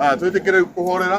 Aya, twĩtĩkĩre kũhorera.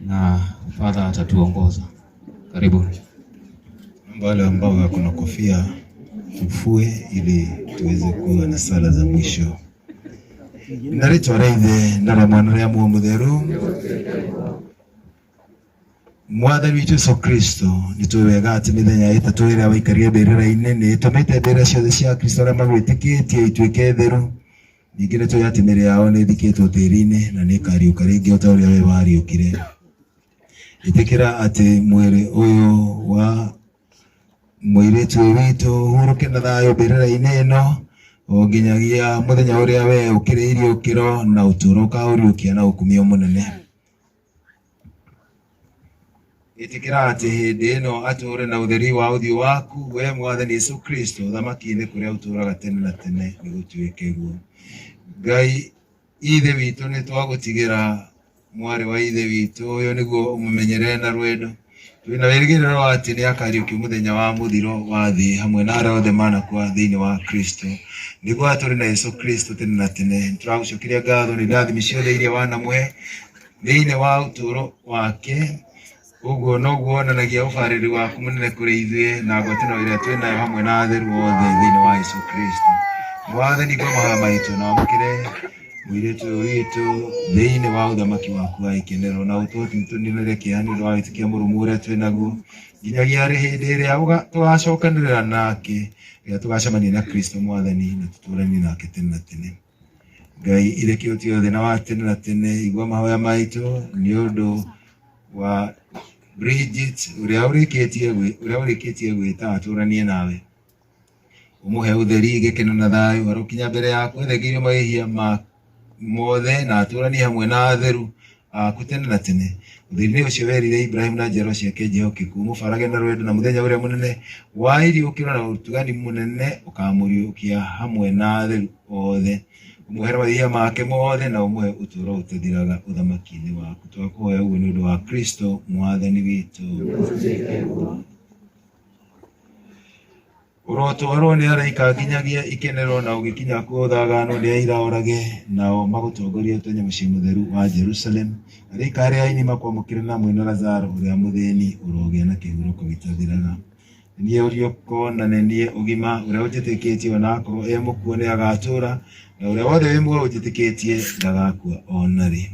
na Father atatuongoza. Karibuni. Naomba wale ambao wako na kofia tufue ili tuweze kuwa na sala za mwisho. Na rĩtwa rĩa ithe na rĩa mwana rĩa muo mũtheru mwathani witũ yesu kristo nĩ tũĩ wega atĩ mĩthenya ĩtatũ ĩrĩa waikarire mbĩrĩra-inĩ nĩ ĩtũmĩte mbĩrĩra ciothe cia kristo arĩa magwĩtĩkĩtie ituĩke theru Ningĩ nĩ tũĩ atĩ mĩĩrĩ yao nĩ ĩthikĩtwo tĩĩri-inĩ na nĩ ĩkariũka rĩngĩ o ta ũrĩa we wariũkire. Ĩtĩkĩra atĩ mwĩrĩ ũyũ wa mũirĩtu ũyũ witũ ũhurũke na thayũ mbĩrĩra-inĩ ĩno o nginyagia mũthenya ũrĩa we ũkĩrĩirie ũkĩro na ũtũũro ũkaũriũkia na ũkumia mũnene. ĩtĩkĩra atĩ hĩndĩ ĩno atũũre na ũtheri wa ũthiũ waku we mwathani Yesu Kristo ũthamaki-inĩ kũrĩa ũtũũraga tene na tene nĩ gũtuĩke guo Ngai ithe witũ nĩ twagũtigĩra mwarĩ wa ithe witũ ũyũ nĩguo ũmũmenyere na rwendo Twĩna wĩrĩgĩrĩro atĩ nĩ akariũkio mũthenya wa mũthiro wa thĩ hamwe na arĩa othe manakua thĩinĩ wa Kristo. Nĩguo atũrĩ na Yesu Kristo tene na tene. Tũragũcokeria ngatho nĩ ndathimi ciothe iria wanamũhe thĩinĩ wa ũtũũro wake. Ũguo noguo wonanagia ũbarĩri waku mũnene kũrĩ ithuĩ na ngwatanĩro ĩrĩa twĩ nayo hamwe na atheru othe thĩinĩ wa Yesu Kristo. Mwathani ngoma haya maitũ na wamũkĩre mwirĩtu ũyũ witũ thĩinĩ wa ũthamaki waku wa gĩkĩnĩro na ũtũtinĩrĩre kĩeha nĩ ũndũ wa wĩtĩkia mũrũmu ũrĩa twĩ naguo nginyagia rĩ hĩndĩ ĩrĩa ũga- tũgacokanĩrĩra nake rĩrĩa tũgacemania na kristo mwathani na tũtũranie nake tene na tene ngai irekia ũtio thĩna wa tene na tene igua mahoya maitũ nĩ ũndũ wa Bridget ũrĩa ũrĩkĩtie gwĩ- ũrĩa ũrĩkĩtie gwĩta atũranie nawe Ũmũhe ũtheri, gĩkeno na thayũ, arokinya mbere yaku ethegeire mahĩhia ma mothe na atũranie hamwe na atheru aku tene na tene. Ũtheri-inĩ ũcio werire Ibrahim na njiaro ciake njehokeku, ũmũbarage na rwendo na mũthenya ũrĩa mũnene wa iriũkĩro na ũtugani mũnene ũkamũriũkia hamwe na atheru othe. Ũmũhere mahĩhia make mothe na ũmũhe ũtũũro ũtathiraga ũthamaki-inĩ waku. Twakũhoya ũguo nĩ ũndũ wa Kristo Mwathani witũ. Ũrotwarwo nĩ araika nginyagia ikenero na ũgĩkinya kuo thagano nĩ aira orage nao magũtongorie ũtonye mũciĩ mũtheru wa Jerusalem. Araika arĩa aini makwamũkĩra na mwĩna Lazaro ũrĩa mũthĩni ũrogĩa na kĩhurũko gĩtathiraga. Nĩ niĩ ũriũko na nĩ niĩ ũgima ũrĩa ũnjĩtĩkĩtie ona akorwo e mũkuũ nĩ agatũũra na ũrĩa wothe wĩ muoyo ũnjĩtĩkĩtie ndagakua o na rĩ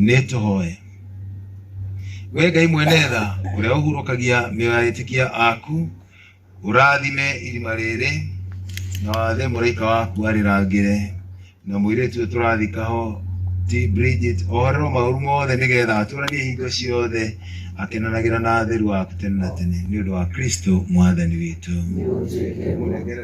nĩ tũhoe we ngai mwene tha ũrĩa ũhurũkagia mĩoyo ya etĩkia aku ũrathime irima rĩrĩ na wathe mũraika waku arĩrangĩre na mũirĩtu ũyũ tũrathika ho ti Bridget ohorerwo maũru mothe nĩgetha atũranie hingo ciothe akenanagĩra na atheru aku tene na tene nĩ ũndũ wa Kristo mwathani witũ Mũnengere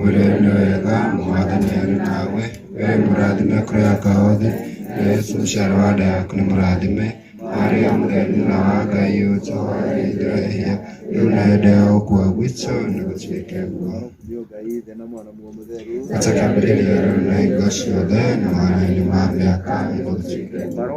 Wĩra nĩ wega mwathani arĩ nawe we mũrathime kũreka othe yesu mũciaro wa nda yaku nĩ mũrathime maria mũtheri na wa ngai ũtũhoere ithuĩ ehia rĩu na hĩndĩ ya ũkua gwitũ nĩ gũtuĩke guo atakambĩrĩria rĩu na hingo ciothe na mwana-inĩ ma mĩaka nĩ gũtuĩke guo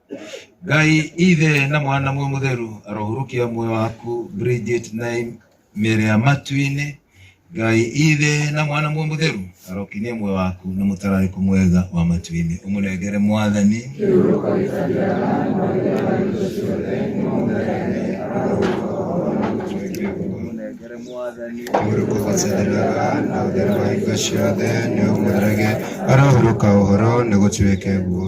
ngai ithe na mwana mwe mutheru arohurukia muoyo waku bridget naim mere ya matu-inĩ ngai ithe na mwana mwe mutheru arokinie muoyo waku na mũtararĩko mwega wa matu-inĩ ũmũnengere mwathani ũmũnengere mwathani ũrĩkũgacĩrĩraga na ũtheri wa hingo ciothe nĩ ũmũrage arohurũka ũhoro nĩ gũtuĩke guo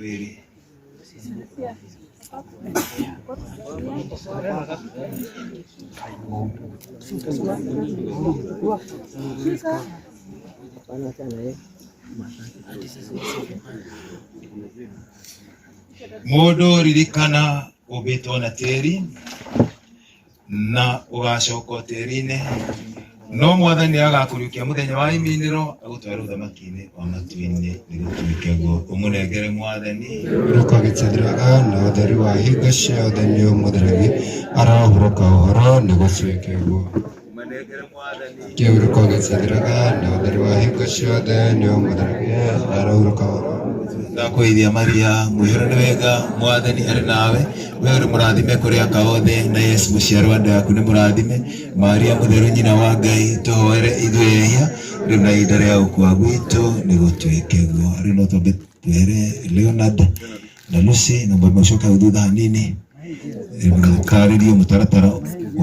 rĩrĩ mũndũ ririkana ũmbĩtwo na tĩri na ũgacoka o tĩri-inĩ no mwathani nĩ agakũriũkia mũthenya wa iminĩro agũtwara ũthamaki-inĩ wa matu-inĩ nĩ gũtuĩke guo ũmũnengere mwathani rũkagĩcithiraga na ũtheri wa hingo ciothe nĩ ũmũtheragia arahurũka ũhoro nĩ gũtuĩke guo Keurukone Sadraka, Naudariwa Hikashode, Neomadarake, Araurukao. ndakwĩithia maria mwĩhũra nĩ wega mwathani arĩ nawe we ũrĩ mũrathime kũrĩ aka othe na yesu mũciaro wa nda yaku nĩ mũrathime maria mũtheru nyina wa ngai tũhoere ithuĩ ehia rĩu na ihinda rĩa gũkua gwitũ nĩ gũtuĩke guo rĩu no twambe twehere leonard na Lucy na mũndũ ũcio ũtarĩ thutha hanini eh, mũkarĩrie mũtaratara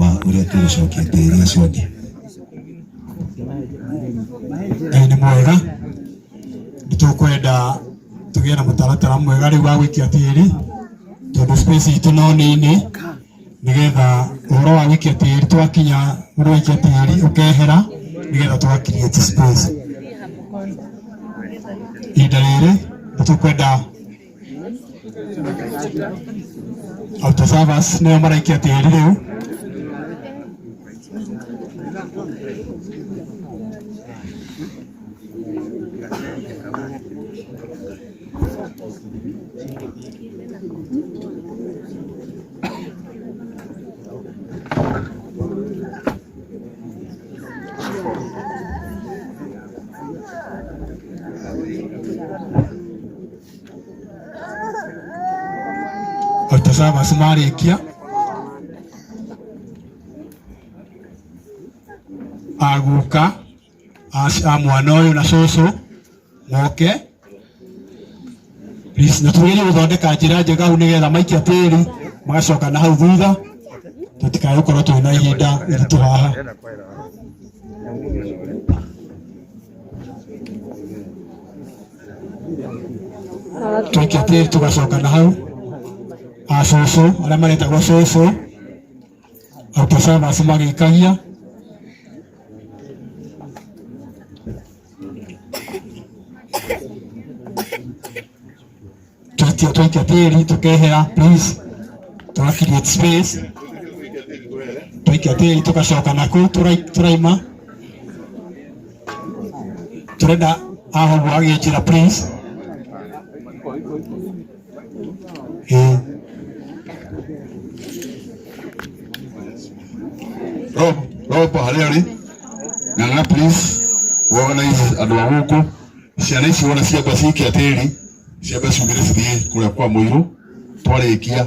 wa ũrĩa tũgũcokia tĩri ũcio ũngĩ. Ngai nĩ mwega nĩ tũkwenda tũgĩe na mũtaratara mwega rĩu wa gũikia tĩri tondũ space itũ no nini nĩgetha ũhoro wa gũikia tĩri twakinya ũndũ wa gũikia tĩri ũkehera nĩgetha tũga create space ihinda rĩrĩ nĩ tũkwenda auto servers nĩo maraikia tĩri rĩu Watazamers marĩkia aguka a mwana ũyũ na cũcũ moke please, na tũgerie gũthondeka njĩra njega hau nĩgetha maikia tĩri magacoka na hau thutha tũtikae gũkorwo twĩ na ihinda iritũ haha tũikia tĩri tũgacoka na hau a cũcũ arĩa maretagwo cũcũ Auto Service magĩkagia twaikia twaikia tĩri tũkehera please tũra create space twaikia tĩri tũgacoka naku tũrai- tũraima tũrenda ahoguo agĩkĩra please Eh. Roho roho kwa hali hali. Ng'ang'a please. Organize andũ a gũkũ. Ciana ici wona ciamba cikia tĩri. Ciamba ciumĩre cithiĩ kũrĩa kwa mũirũ. Twarĩkia